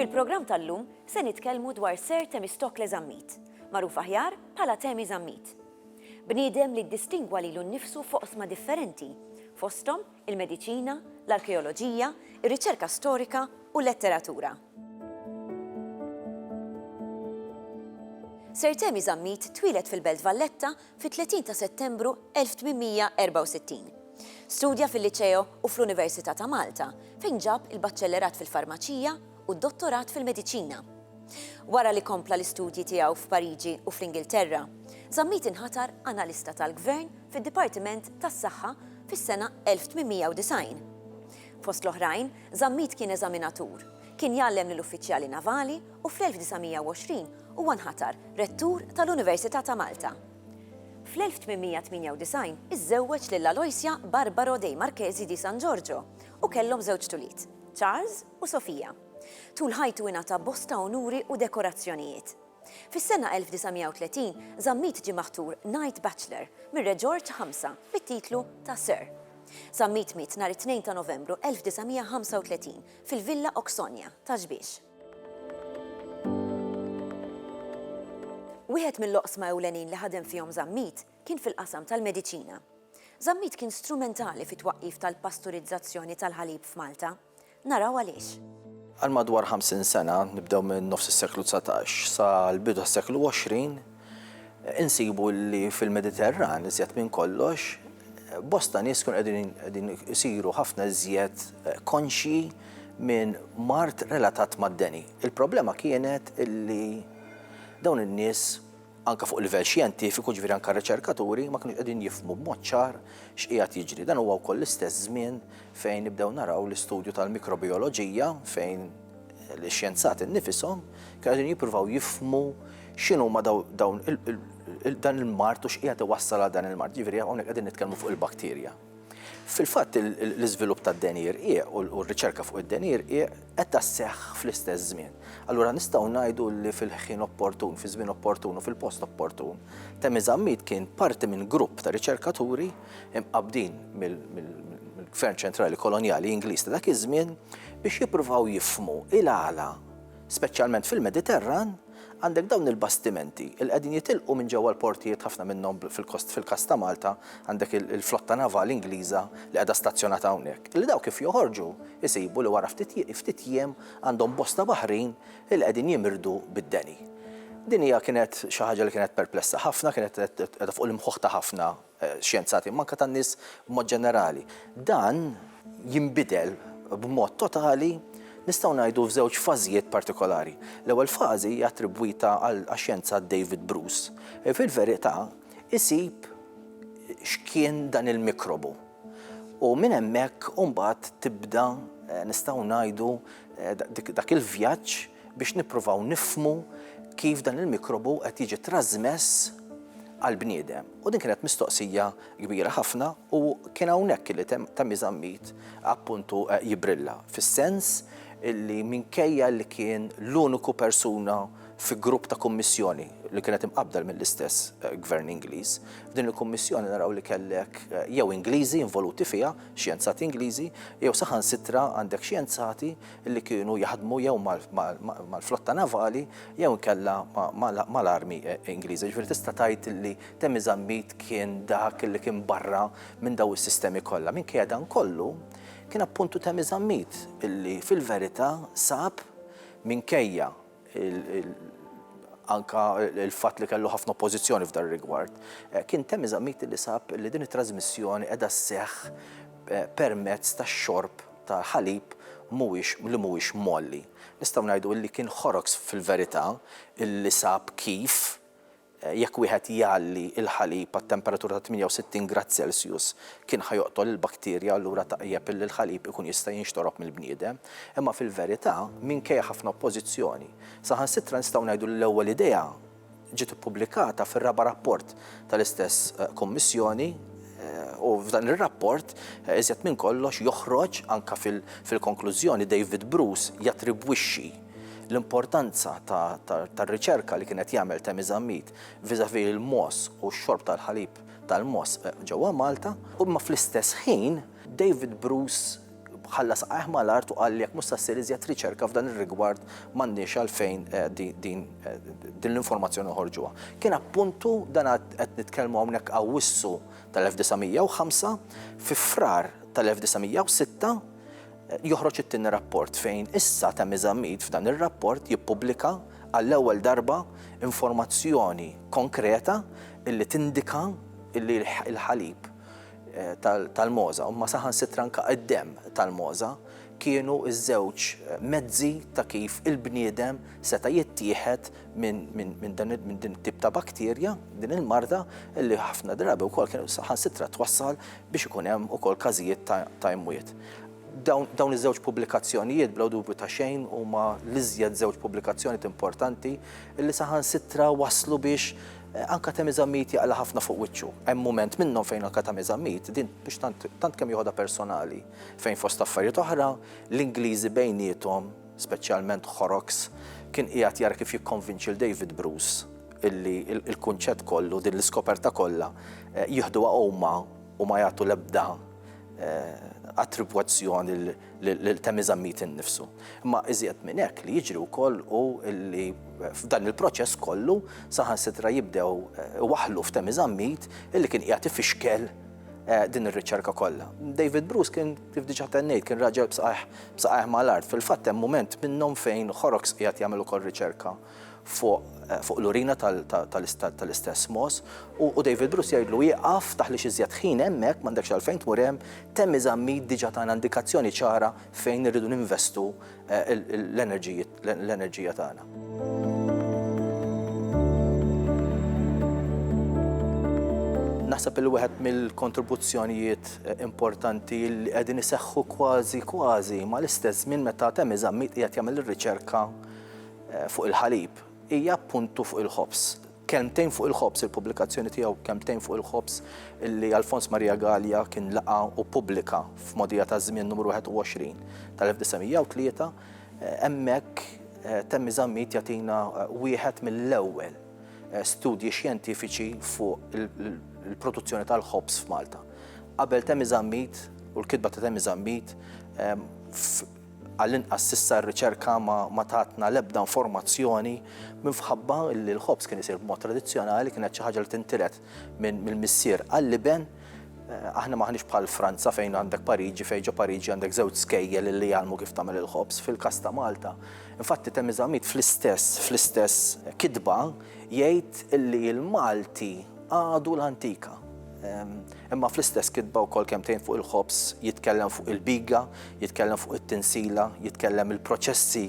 Fil-programm tal-lum se nitkellmu dwar Sir Temistokle Zammit, magħruf aħjar bħala Temi Zammit. Bniedem li ddistingwa lilu nnifsu foqsma differenti, fosthom il-mediċina, l-arkeoloġija, ir-riċerka storika u l-letteratura. Sir Temi Zammit twieled fil-Belt Valletta fit-30 ta' Settembru 1864. Studja fil-Liċeo u fl-Università ta' Malta, fejn ġab il-Baċċellerat fil-Farmaċija u d-Dottorat fil-Mediċina. Wara li kompla l-istudji tiegħu f'Pariġi u fl-Ingilterra, Zammit inħatar Analista tal-Gvern fid-Dipartiment tas-Saħħa fis-sena 1890. Fost l-oħrajn, Zammit kien eżaminatur, kien jgħallem lill-uffiċjali navali u fl-1920 huwa nħatar Rettur tal-Università ta' Malta. Fl-1898 iżżewweġ lil Aloysia Barbaro dei Marchesi di San Giorgio u kellhom żewġt ulied, Charles u Sofia. Tul ħajtu ingħata bosta unuri u dekorazzjonijiet. Fis-sena 1930, Zammit ġie maħtur Knight Bachelor mir-Re Ġorġ Ħamsa bit-titlu ta' Sir. Zammit miet nhar it-Tnejn ta' Novembru 1935 fil-Villa Oxonia ta' Xbiex. Wieħed mill-oqsma ewlenin li ħadem fihom Zammit kien fil-qasam tal-mediċina. Zammit kien strumentali fit-twaqqif tal-pasturizzazzjoni tal-ħalib f'Malta. Naraw għaliex. Għal madwar 50 sena, nibdew minn nofs is-seklu 19 sa l-bidu tas-seklu 20, insibu li fil-Mediterran iżjed minn kollox bosta nies kun qegħdin isiru ħafna iżjed eh, konxji minn mart relatat mad-deni. Il-problema kienet illi dawn in-nies anke fuq livell xjentifiku, jiġifieri anke r-riċerkaturi ma kinux qegħdin jifhmu b'mod ċar x'qiegħed jiġri. Dan huwa wkoll l-istess żmien fejn nibdew naraw l-istudju tal-mikrobijoloġija fejn l-xjenzati nnifishom kienu qegħdin jippruvaw jifhmu x'inhuma dawn dan il-mard u x'qiegħed iwassal għal dan il-mard. Jiġifieri hawnhekk qegħdin nitkellmu fuq il-bakterja. Fil-fatt, l-iżvilupp tad-denjir qiegħ u r-riċerka fuq id-denjir qiegħ qed sseħħ fl-istess żmien. Allura nistgħu ngħidu li fil-ħin opportun, fiż-żmien opportun u fil-post opportun, Temi Zammit kien parti minn grupp ta' riċerkaturi mqabbdin mill-Gvern Ċentrali Kolonjali Ingliż ta' dak iż-żmien biex jippruvaw jifhmu il-għala, speċjalment fil-Mediterran, Għandek dawn il-bastimenti li qegħdin jitilqu minn ġewwa l-portijiet ħafna minnhom fil-każ ta' Malta għandek il-flotta navali Ingliża li qiegħda stazzjonata hawnhekk, li dawk kif joħorġu jsibu li wara ftit jiem għandhom bosta baħrin li qegħdin jimirdu bid-deni. Din hija kienet xi ħaġa li kienet perplessa ħafna, kienet qiegħda fuq l-imħuħ ta' ħafna xjenzati imma anke tan-nies b'mod ġenerali. Dan jinbidel b'mod totali nistgħu ngħidu f'żewġ fażijiet partikolari. L-ewwel fażi hija attribwita għax-xjenzat David Bruce. Fil-verità isib x'kien dan il-mikrobu u minn hemmhekk imbagħad tibda nistgħu ngħidu dak il-vjaġġ, biex nippruvaw nifhmu kif dan il-mikrobu qed jiġi trażmess għall-bniedem. U din kienet mistoqsija kbira ħafna u kien hawnhekk li ta' miżammit appuntu eh, jibrilla fis-sens li minkejja li kien l-uniku persuna fi grupp ta' kummissjoni li kienet imqabdel mill-istess eh, gvern Ingliż. F'din il-kummissjoni naraw li kellek eh, jew Ingliżi involuti fiha, xjenzati Ingliżi, jew saħansitra għandek xjenzati li kienu jaħdmu jew mal-flotta navali jew inkella mal-armi Ingliża. Ġifieri tista' tgħid li Temi Zammit kien dak li kien barra minn daw is-sistemi kollha. Minkejja dan kollu, kien appuntu Temi Zammit illi fil-verità sab minkejja anke l-fatt li kellu ħafna oppożizzjoni f'dan rigward, eh, kien temm eżamiti li sab li din it-trasmissjoni qiegħda sseħħ eh, permezz tax-xorb ta' ħalib mhuwiex li mhuwiex molli. Nistgħu ngħidu li kien ħoroks fil-verità li sab kif Jekk wieħed jgħalli l-ħalib għat-temperatura ta' 68 grad Celsius kien ħa joqtol il-bakterja allura tajjeb illi l-ħalib ikun jista' jinxtorob mill-bniedem. Imma fil-verità, minkejja ħafna oppożizzjoni, saħansitra nistgħu ngħidu li l-ewwel idea ġiet ippubblikata fir-raba' rapport tal-istess Kummissjoni u f'dan ir-rapport iżjed minn kollox joħroġ anke fil-konklużjoni David Bruce jattribwixxi L-importanza tar-riċerka li kien qed jagħmel Temi Zammit vis-à-vis l-mogħoż u x-xorb tal-ħalib tal-mogħoż ġewwa Malta, imma fl-istess ħin David Bruce ħalla saqajh mal-art u qal li jekk mhux se ssir iżjed riċerka f'dan ir-rigward m'għandniex għalfejn din din l-informazzjoni noħorġuha. Kien appuntu dan qed nitkellmu hawnhekk Awwissu tal-1905, fi Frar tal-1906, joħroġ it-tieni rapport fejn issa ta' Mizamid f'dan ir-rapport jippubblika għall-ewwel darba informazzjoni konkreta illi tindika illi l-ħalib eh, tal-moza, u ma saħan sitranka id-dem tal-moza, kienu iż-żewġ eh, mezzi ta' kif il-bniedem seta' jittieħed minn din tip ta' bakterja, din il-marda, illi ħafna drabi wkoll kienu saħan sitra twassal biex ikun hemm ukoll każijiet ta' imwiet. Dawn iż-żewġ pubblikazzjonijiet bla dubju ta' xejn huma l-iżjed żewġ pubblikazzjonijiet importanti li saħansitra wasslu biex anke Temi Zammit jaqla' ħafna fuq wiċċu. Hemm mument minnhom fejn anke Temi Zammit, din biex tant tant kemm joħodha personali, fejn fost affarijiet oħra, l-Ingliżi bejniethom, speċjalment Horrocks, kien qiegħed jara kif jikkonvinċi 'l David Bruce illi l-kunċett kollu, din l-iskoperta kollha, jieħduha huma u ma jagħtu l-ebda attribwazzjoni lil Temi Zammit innifsu. Imma iżjed minn hekk li jiġri wkoll hu li f'dan il-proċess kollu saħansitra jibdew iwaħħlu f'Temi Zammit illi kien qiegħed ifixkel din ir-riċerka kollha. David Bruce kien Kif diġà tennejt, kien raġel b'saqajh b'saqajh mal-art. Fil-fatt hemm mument minnhom fejn Horrocks qiegħed jagħmel ukoll riċerka fuq fuq l-urina tal tal tal-istess Moss u David Bruce jgħidlu ieqaf taħlix iżjed ħin hemmhekk m'għandekx għalfejn tmur hemm, Temmy Zammit diġà tana indikazzjoni ċara fejn irridu ninvestu l-enerġiji l-enerġija tagħna. naħseb il wieħed mill-kontribuzzjonijiet eh, importanti li qegħdin iseħħu kważi kważi ma l-istess żmien meta temm iżammit qiegħed jagħmel ir-riċerka eh, fuq il-ħalib hija puntu fuq il-ħobs. Kemtejn fuq il-ħobs il-pubblikazzjoni tiegħu kemtejn fuq il-ħobs li Alfons Maria Gallia kien laqa u pubblika f'modija ta' żmien numru 21 tal-1903 Hemmhekk Temmi Zammit jagħtina wieħed mill-ewwel studji xjentifiċi fuq il-produzzjoni tal-ħobż f'Malta. Qabel Temmi Zammit u l-kitba ta' Temmi Zammit għall-inqas s'issa r-riċerka ma tatna l-ebda informazzjoni minfħabba li l-ħobż kien isir b'mod tradizzjonali kienet xi ħaġa li tintiret minn mill-missier għall-iben eh, aħna maħniex bħal Franza fejn għandek Pariġi, fejn ġo Pariġi għandek żewġ skejjel li jgħalmu kif tagħmel il-ħobs fil-kasta Malta. Infatti temm iżamit fl-istess fl-istess kitba jgħid illi l-Malti għadu l-antika. Ehm, imma fl-istess kitba wkoll kemm tgħin fuq il-ħobs, jitkellem fuq il-biga, jitkellem fuq it-tinsila, jitkellem il-proċessi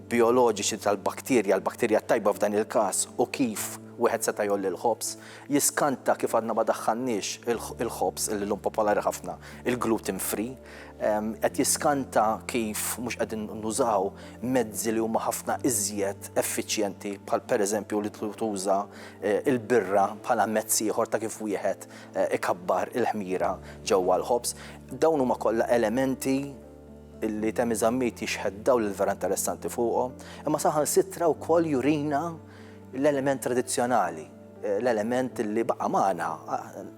bijoloġiċi tal-bakterja, l-bakterja t-tajba f'dan il-każ, u kif wieħed seta' jgħolli l-ħobż, jiskanta kif għadna ma daħħalniex il-ħobż li llum popolari ħafna, il-gluten free, qed jiskanta kif mhux qegħdin nużaw mezzi li huma ħafna iżjed effiċjenti bħal pereżempju li tuża l-birra bħala mezz ieħor ta' kif wieħed ikabbar il-ħmira ġewwa l-ħobż. Dawn huma kollha elementi li Temi Zammit jixħet dawl il-vera interessanti fuqhom, imma saħansitra wkoll jurina l-element tradizzjonali, l-element li baqa' magħna,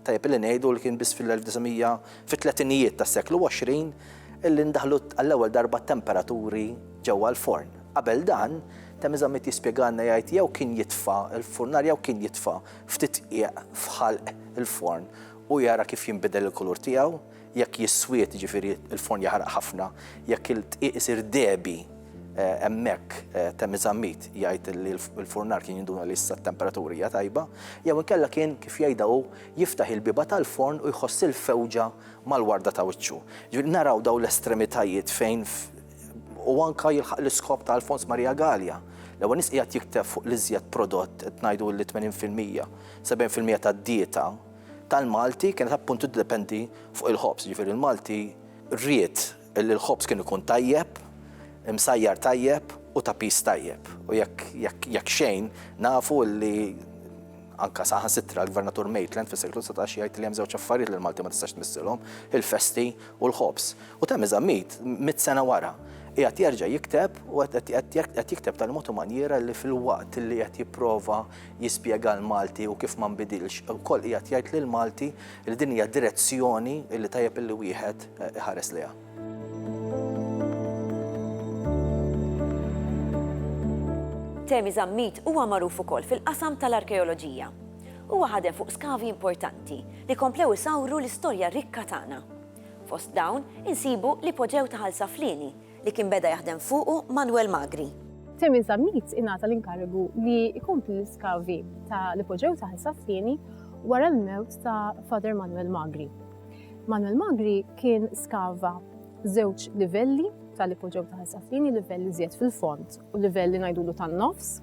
tajjeb li ngħidu li kien biss fil-1900 fit-tletinijiet tas-seklu 20 illi ndaħlu għall-ewwel darba t-temperaturi ġewwa l-forn. Qabel dan, Temi Zammit jispjegalna jgħid jew kien jitfa' l-furnar jew kien jitfa' ftit qiegħ f'ħalq il-forn u jara kif jinbidel il-kulur tiegħu, Jekk jiswied, jiġifieri l-forn jaħraq ħafna, jekk il-dqiq isir dehbi, hemmhekk Temmy Zammit jgħid li l-furnar kien jinduna li issa t-temperatura hija tajba, jew inkella kien, kif jgħidha hu, jiftaħ il-bieba tal-forn u jħoss il-fewġa mal-warda ta' wiċċu. Jiġifieri naraw dawn l-estremitajiet fejn u anke jilħaq l-iskop ta' Alfons Maria Galea. L-ewwel nies qiegħed jikteb fuq l-iżjed prodott, qed ngħidu li 80 fil-mija, 70 fil-mija tad-dieta, tal-Malti kienet appunt tiddependi fuq il-ħobż, jiġifieri l-Malti ried li l-ħobż kien ikun tajjeb, imsajjar tajjeb u ta' piż tajjeb. U jekk jekk jekk xejn nafu li anke saħansitra l-Gvernatur Maitland fis-seklu dsatax jgħid li hemm żewġ affarijiet li l-Malti ma tistax tmissilhom, il-festi u l-ħobż. U Thami Zammit mitt sena wara qiegħed jerġa' jikteb u qed qed qed jikteb tal-mod u manjiera li filwaqt li qed jipprova jispjega l-Malti u kif ma nbidilx, ukoll qiegħed jgħid lill-Malti li din hija direzzjoni li tajjeb illi wieħed iħares lejha. Temi Zammit huwa magħruf ukoll fil-qasam tal-arkeoloġija. Huwa ħadem fuq skavi importanti li komplew isawru l-istorja rikka tagħna. Fost dawn insibu l-ipoġew ta' Ħal Saflieni li kien beda jaħdem fuqu Manwel Magri. Temi Zammit ingħata l-inkarigu li jkompli l-iskavi ta' l-ipoġew ta' Ħsas-Sieni wara l-mewt ta' Father Manwel Magri. Manwel Magri kien skava żewġ livelli tal-ipoġew ta' Ħsas-Sieni, livell iżjed fil-fond u livell li ngħidulu tan-nofs.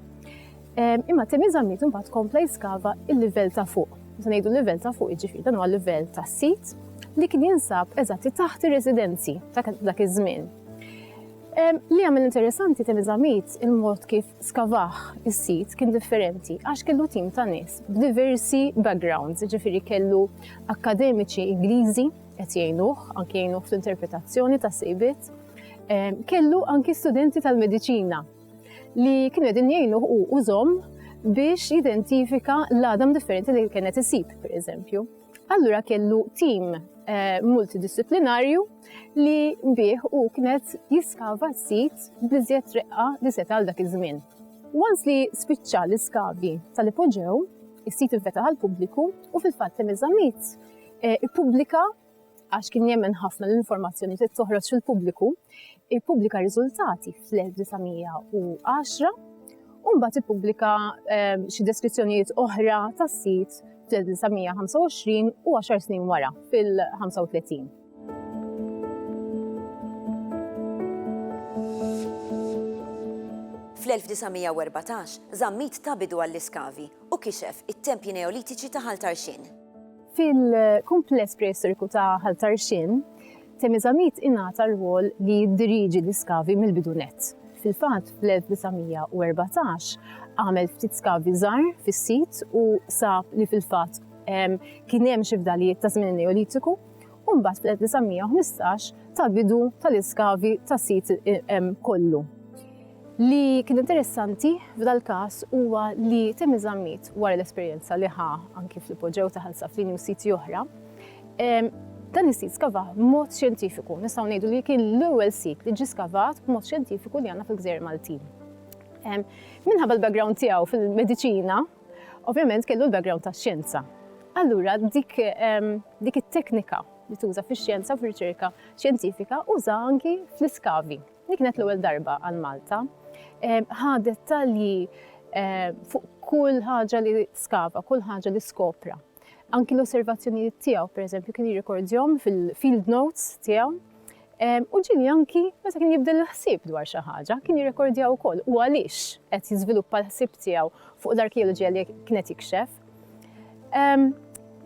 Imma Theresa Mitt imbagħad kompla jiskava il-livell ta' fuq. Meta ngħidu l-livell ta' fuq jiġifieri dan huwa livell tas-sit li kien jinsab eżatti taħt ir-residenzi ta' dak iż-żmien. Li għamil interessanti tenizamit il-mod kif skavaħ is-sit kien differenti għax kellu tim ta' nies b'diversi backgrounds, ġifiri kellu akademiċi Ingliżi qed jgħinuh, anke jgħinuh fl-interpretazzjoni ta' sejbit, kellu anki studenti tal-mediċina li kienu qegħdin jgħinuh u użhom biex jidentifika l-għadam differenti li kienet isib, per eżempju. Allura kellu tim eh, multidisciplinarju li bih u kienet jiskava s-sit bliżjed reqqa li seta għal dak iż-żmien. Once li spiċċa l-iskavi tal-ipoġew, is-sit infetaħ għal pubbliku u fil-fatt temizamit eh, ippubblika għax kien jemmen ħafna l-informazzjoni trid toħroġ fil-pubbliku, ippubblika riżultati fl-1910 u mbagħad ippubblika ehm, xi deskrizzjonijiet oħra tas-sit fl-1925 u 10 snin wara fil-35. Fl-1914 zammit ta' bidu għall-iskavi u kixef it-tempji neolitiċi ta' Ħaltarxin. Fil-kumpless preistoriku ta' Ħal Tarxien, Temezamit ingħata r-rwol li jiddiriġi l-iskavi mill-bidu nett. Fil-fatt, fl-1914 għamel ftit skavi żgħar fis-sit u sab li fil-fatt kien hemm xi fdalijiet ta' żmien Neolitiku u mbagħad fl-1915 ta' bidu tal-iskavi tas-sit kollu. Li kien interessanti f'dal-każ huwa li Timmy Zammit wara l-esperjenza li ħa anki fl-ipoġew ta' Ħal Saflini u siti oħra, dan is-sit skavah b'mod xjentifiku. Nistgħu ngħidu li kien l-ewwel sit li ġie skavat b'mod xjentifiku li għandna fil-Gżejjer Maltin. Minħabba l-background tiegħu fil-mediċina, Ovvjament kellu l-background tax-xjenza. Allura dik dik it-teknika li tuża fix-xjenza u fir-riċerka xjentifika użaha anki fl-iskavi. Dik kienet l-ewwel darba għal Malta. Ħa dettalji fuq kull ħaġa li skava, kull ħaġa li skopra. Anki l-osservazzjonijiet tiegħu, pereżempju, kien jirrikordjhom fil-field notes tiegħu. U ġieli anki meta kien jibdel il-ħsieb dwar xi ħaġa, kien jirrekordja wkoll u għaliex qed jiżviluppa l-ħsieb tiegħu fuq l-arkeoloġija li kien qed jikxef.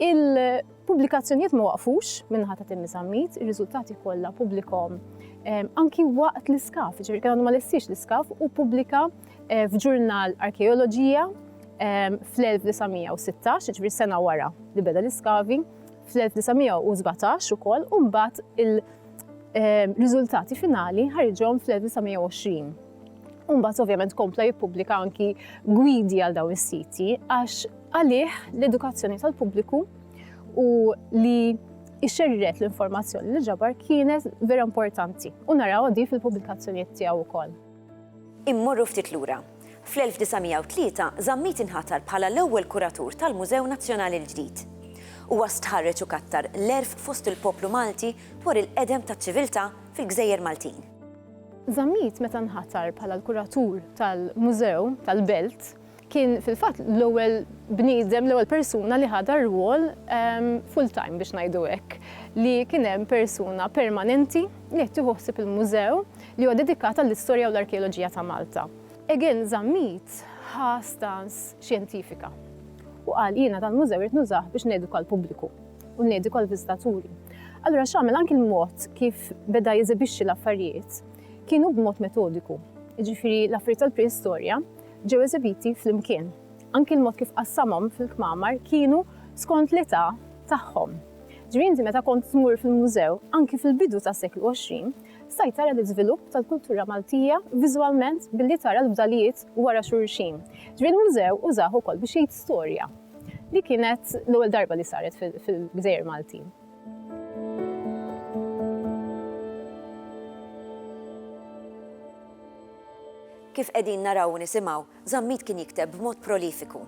Il-pubblikazzjonijiet ma waqfux minnaħa ta' Timmy Zammit, ir-riżultati kollha pubblikom anki waqt l-iskaf, ġifieri kien għandu ma lessiex l-iskaf u pubblika Eh, f'ġurnal arkeoloġija ehm, fl-1916, ġviri sena wara li beda l-iskavi, fl-1917 u koll, un-bat il-rizultati ehm, finali ħarġom fl-1920. Un-bat ovvjament kompla jippubblika anki gwidi għal daw is-siti, għax għalih l-edukazzjoni tal-pubbliku u li ixerret l-informazzjoni li ġabar kienet vera importanti u naraw di fil-pubblikazzjonijiet tiegħu wkoll. Immorru ftit lura. Fl-1903 Zammit inħatar bħala l-ewwel kuratur tal-Mużew Nazzjonali l-ġdid. Huwa stħarreġ u kattar l-għerf fost il-poplu Malti dwar il-qedem taċ-ċiviltà fil-gżejjer Maltin. Zammit meta nħatar bħala l-kuratur tal-Mużew tal-Belt Kien fil-fatt l-ewwel bniedem, l-ewwel persuna li ħa dar-rwol full time biex ngħidu hekk, li kien hemm persuna permanenti li qed tieħu ħsieb il-mużew li huwa dedikat għall-istorja u l-arkeoloġija ta' Malta. Egan Zammit ħa stance xjentifika u qal jiena dan mużew irrid nużah biex neduka l-pubbliku u neduka l-viżitaturi. Allura x'għamel anki l-mod kif beda jeżibixxi l-affarijiet kienu b'mod metodiku, jiġifieri l-affarijiet tal-preistorja ġew eżibiti flimkien. Anki l-mod kif qassamhom fil-kmamar kienu skont l-età tagħhom. Ġifieri inti meta kont tmur fil-mużew, anki fil-bidu tas-seklu 20, stajt tara l-iżvilupp tal-kultura Maltija viżwalment billi tara l-fdalijiet wara xulxin. Ġifieri l-mużew użah ukoll biex jgħid storja li kienet l-ewwel darba li saret fil-gżejjer Maltin. Kif qegħdin naraw u nisimgħu, Zammit kien jikteb b'mod prolifiku.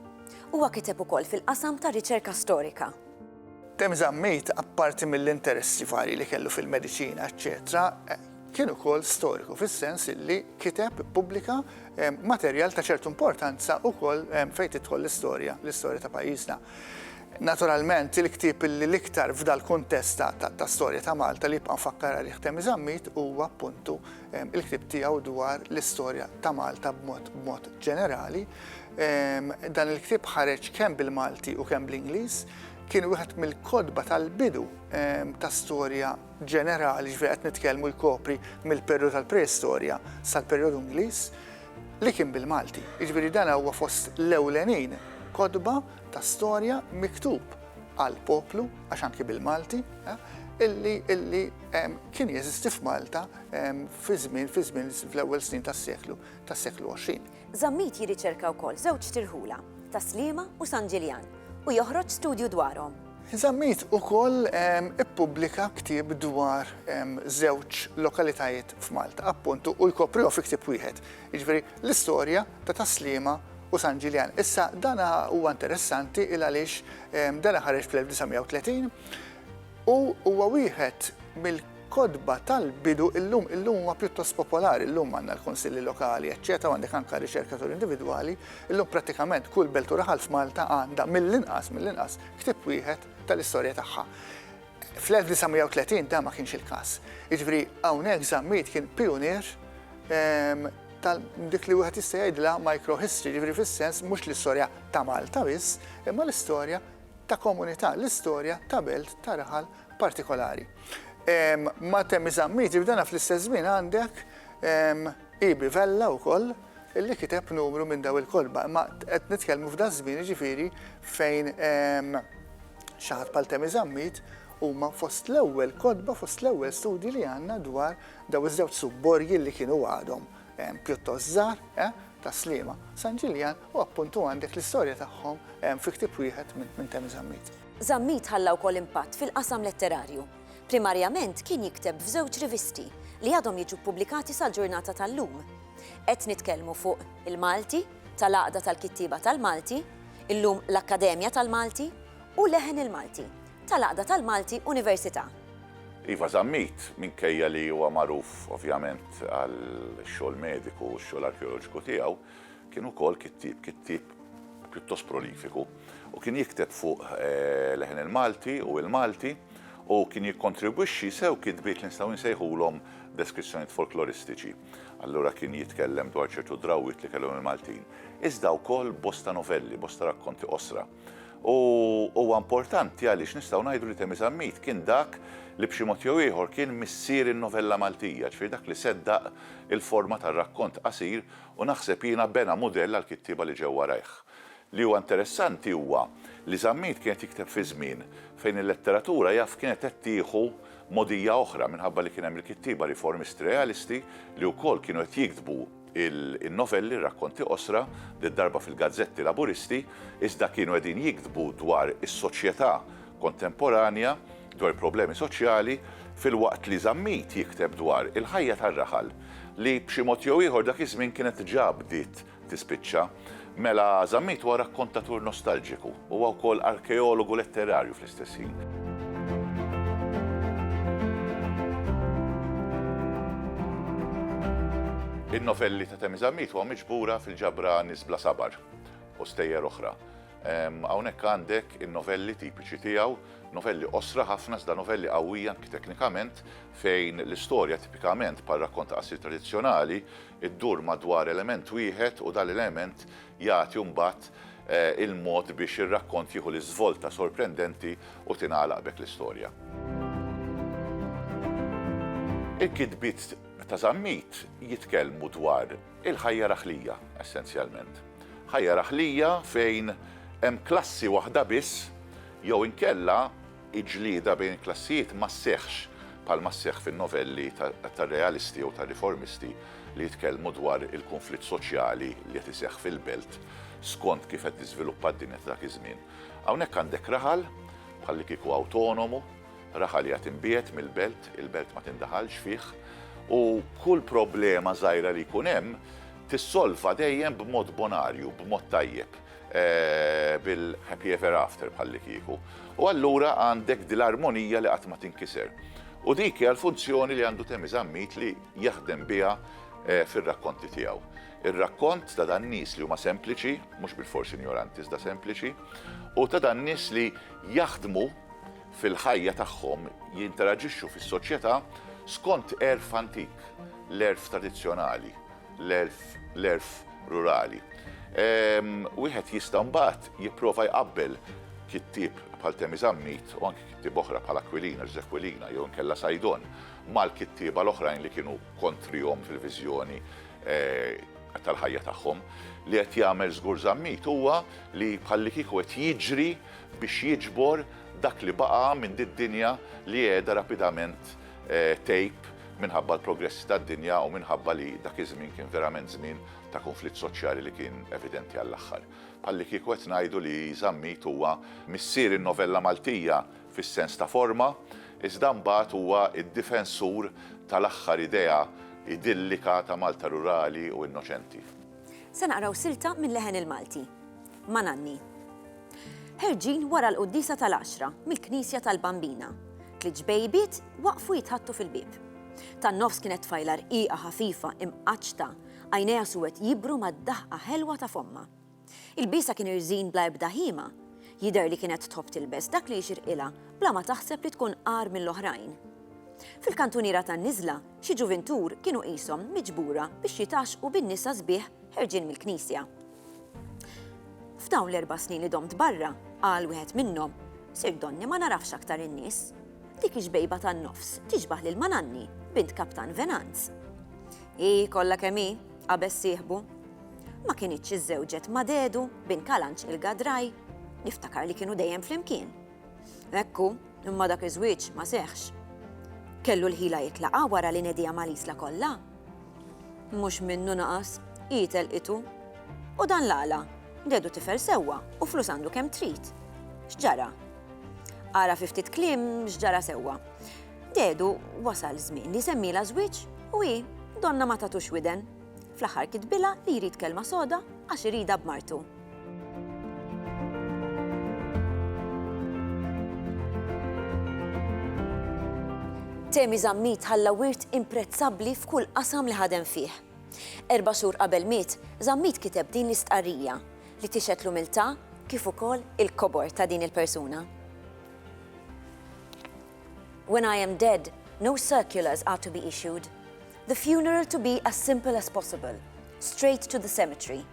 Huwa kiteb ukoll fil-qasam tar-riċerka storika. Tim Zammit, apparti mill-interessi varji li kellu fil-mediċina eċċetera, kien ukoll storiku fis-sens li kiteb, ippubblika, materjal ta' ċertu importanza ukoll fejn tidħol l-istorja, l-istorja ta' pajjiżna. Naturalment, il-ktieb li l-iktar f'dal-kuntest ta' storja ta' Malta li jibqa' mfakkar għalih Tim Zammit huwa appuntu il-ktieb tiegħu dwar l-istorja ta' Malta b'mod ġenerali. Dan il-ktieb ħareġ kemm bil-Malti u kemm bl-Ingliż, kien wieħed mill-kotba tal-bidu ta' storja ġenerali ġifieri qed nitkellmu jkopri mill-perjodu tal-preistorja sal-perjodu Ingliż li kien bil-Malti. Jiġifieri dan huwa fost l-ewlenin kotba ta' storja miktub għal poplu, għax anki bil-Malti, illi illi kien jeżisti f'Malta fi żmien fi żmien fl-ewwel snin tas-seklu tas-seklu 20. Zammit jirriċerka wkoll żewġ tirħula, ta' Sliema u San Ġiljan, u joħroġ studju dwarhom. Zammit ukoll ippubblika ktieb dwar żewġ lokalitajiet f'Malta, appuntu, u jkoprihom fi ktieb wieħed. Jiġifieri, l-istorja ta' Tas-Sliema u San Ġiljan. Issa, dan huwa interessanti il għaliex dan ħareġ fl-1930 u huwa wieħed mill kotba tal-bidu illum, illum huwa pjuttost popolari, illum għandna l-Kunsilli Lokali, eċċetera, għandek anke riċerkatur individwali, illum prattikament kull belt u raħal f'Malta għandha mill-inqas, mill-inqas, ktieb wieħed tal-istorja tagħha. Fl-1930 dan ma kienx il-każ. Jiġifieri hawnhekk Zammit kien pijunier tal dik li wieħed jista' jgħidilha microhistory, jiġifieri fis-sens mhux l-istorja ta' Malta biss, imma l-istorja ta' komunità, l-istorja ta' belt ta' raħal partikolari. Ma' Temmi Zammit jibdana fl-istess żmien għandek Ibi Vella wkoll li kiteb numru minn daw il-kotba, imma qed nitkellmu f'da żmien jiġifieri fejn Xi ħadd bħal Temi Zammit huma fost l-ewwel kotba, fost l-ewwel studji li għandna dwar dawn iż-żewġ subborgi li kienu għadhom pjuttost żgħar ta' Sliema. San Ġiljan u appuntu għandek l-istorja tagħhom fi ktieb wieħed minn Temi Zammit. Zammit ħalla wkoll impatt fil-qasam letterarju. Primarjament kien jikteb f'żewġ rivisti li għadhom jiġu ppubblikati sal-ġurnata tal-lum. Qed nitkellmu fuq Il-Malti, tal-Għaqda tal-Kittieba tal-Malti, illum l-Akkademja tal-Malti, u Leħen il-Malti, tal-Għaqda tal-Malti Università. Iva Zammit, minkejja li huwa magħruf ovvjament għall-xogħol mediku u x-xogħol arkeoloġiku tiegħu, kien ukoll kittieb, kittieb pjuttost prolifiku u kien jikteb fuq Leħen il-Malti u l-Malti u kien jikkontribwixxi sew kitbiet li nistgħu nsejħulhom deskrizzjonijiet folkloristiċi. Allura kien jitkellem dwar ċertu drawwiet li kellhom il-Maltin. Iżda wkoll bosta novelli, bosta rakkonti qosra. U huwa importanti għaliex nistgħu ngħidu li Temi Zammit kien dak li b'xi mod jew ieħor kien missier in-novella Maltija, ġifieri dak li seddaq il-forma tar-rakkont qasir u naħseb jiena bena mudell għall-kittieba li ġew warajh. Li huwa interessanti huwa li Zammit kien qed jikteb fi żmien fejn il-letteratura jaf kienet qed tieħu mogħdija oħra minħabba li kien hemm il-kittieba riformisti realisti li wkoll kienu qed jiktbu in-novelli, ir-rakkonti qosra, did-darba fil-gazzetti Laburisti, iżda kienu qegħdin jiktbu dwar is-soċjetà kontemporanja, dwar il-problemi soċjali, filwaqt li Zammit jikteb dwar il-ħajja tar-raħal li b'xi mod jew ieħor dak iż-żmien kienet ġa bdiet tispiċċa, mela Zammit huwa rakkontatur nostalġiku, huwa wkoll arkeologu letterarju fl-istess ħin. In-novelli ta' Temi Zammit huwa miġbura fil-ġabra Nisbla Sabar u stejjer oħra. Hawnhekk għandek in-novelli tipiċi tiegħu, novelli qosra ħafna iżda novelli qawwija anki teknikament fejn l-istorja tipikament par rakkont ta' qasir tradizzjonali Iddur madwar element wieħed u dal-element jagħti mbagħad il-mod biex ir-rakkont jieħu l-iżvolta sorprendenti u tingħalaq b'hekk l-istorja. Il-kitbiet ta' Zammit jitkellmu dwar il-ħajja raħlija, essenzjalment. Ħajja raħlija fejn hemm klassi waħda biss jew inkella il-ġlieda bejn il-klassijiet ma sseħħx bħalma sseħħ fin-novelli tar-realisti jew tar-riformisti li jitkellmu dwar il-kunflitt soċjali li qed iseħħ fil-belt skont kif qed tiżviluppa d-dinja ta' dak iż-żmien. Hawnhekk għandek raħal bħallikieku awtonomu, raħal qiegħed imbiegħed mill-belt, il-belt ma tindaħalx fih, u kull problema żgħira li jkun hemm tissolva dejjem b'mod bonarju, b'mod tajjeb. bil-happy ever after bħallikieku. U allura għandek dil-armonija li qatt ma tinkiser. U dik hija l-funzjoni li għandu Temi Zammit li jaħdem biha eh, fir-rakkonti tiegħu. Ir-rakkont ta' dan nies li huma sempliċi, mhux bil-fors injoranti iżda sempliċi, u ta' dan nies li jaħdmu fil-ħajja tagħhom jinteraġixxu fis-soċjetà skont erf antik, l-erf tradizzjonali l-għerf, l-għerf rurali. Wieħed jista' mbagħad jipprova jqabbel kittieb bħal Temi Zammit u anki kittieb oħra bħal Aquilina, Ġużè Aquilina jew inkella Saidon mal-kittieba l-oħrajn li kienu kontrihom fil-viżjoni tal-ħajja tagħhom. Li qed jagħmel żgur Zammit huwa li bħallikieku qed jiġri biex jiġbor dak li baqa' minn did-dinja li qiegħda rapidament tape minħabba l-progressi tad-dinja u minħabba li dak iż-żmien kien verament żmien ta' kunflitt soċjali li kien evidenti għall-aħħar. Bħalli kieku qed ngħidu li Żammit huwa missier in-novella Maltija fis-sens ta' forma, iżda mbagħad huwa d-difensur tal-aħħar idea idillika ta' Malta rurali u innoċenti. Se naqraw silta minn Leħen il-Malti. ma' Nanni. Ħerġin wara l-Quddiesa tal-Għaxra mill-Knisja tal-Bambina, tliet ġbejbiet waqfu jitħaddtu fil-bieb. Tan-nofs kienet tfajla rqiqa ħafifa imqaċċta, għajnejha suwed jibru mad-daħqa ħelwa ta' fommha. Ilbiesha kien irżin bla ebda ħima, jidher li kienet tħobb tilbes dak li jixirqilha bla ma taħseb li tkun agħar mill-oħrajn. Fil-kantuniera tan-niżla, xi ġuvintur kienu qishom miġbura biex jitgħaxxqu bin-nisa sbieħ ħerġin mill-knisja. F'dawn l-erba' snin li domt barra, qal wieħed minnhom, Sir Donny ma nagħrafx aktar in-nies. Dik ix-xbejba tan-nofs tixbah lil Mananni, bint Kaptan Venanz. Hi, kollha kemm hi, qabeż sieħbu. Ma kinitx iżżewġet ma' dedu, bin Kalanġ il-Gadraj? Niftakar li kienu dejjem flimkien. Hekk hu, imma dak iż-żwieġ ma seħħx. Kellu l-ħila jitlaqgħa wara li nediha mal-Isla kollha? Mhux minnu naqas, hi telqitu. U dan l-għala? Dedu tifel sewwa u flus għandu kemm trid. X'ġara? Ara fi ftit kliem x'ġara sewwa. Dedu wasal żmien li jsemmilha żwieġ u hi, donnha ma tatux widen. Fl-aħħar kitbilha li jrid kelma soda għax iridha b'martu. Temi Zammit ħalla wirt imprezzabbli f'kull qasam li ħadem fih. Erba' xhur qabel miet, Zammit kiteb din l-istqarrija li tixed l-umiltà kif ukoll il-kobor ta' din il-persuna. When I am dead, no circulars are to be issued. The funeral to be as simple as possible, straight to the cemetery.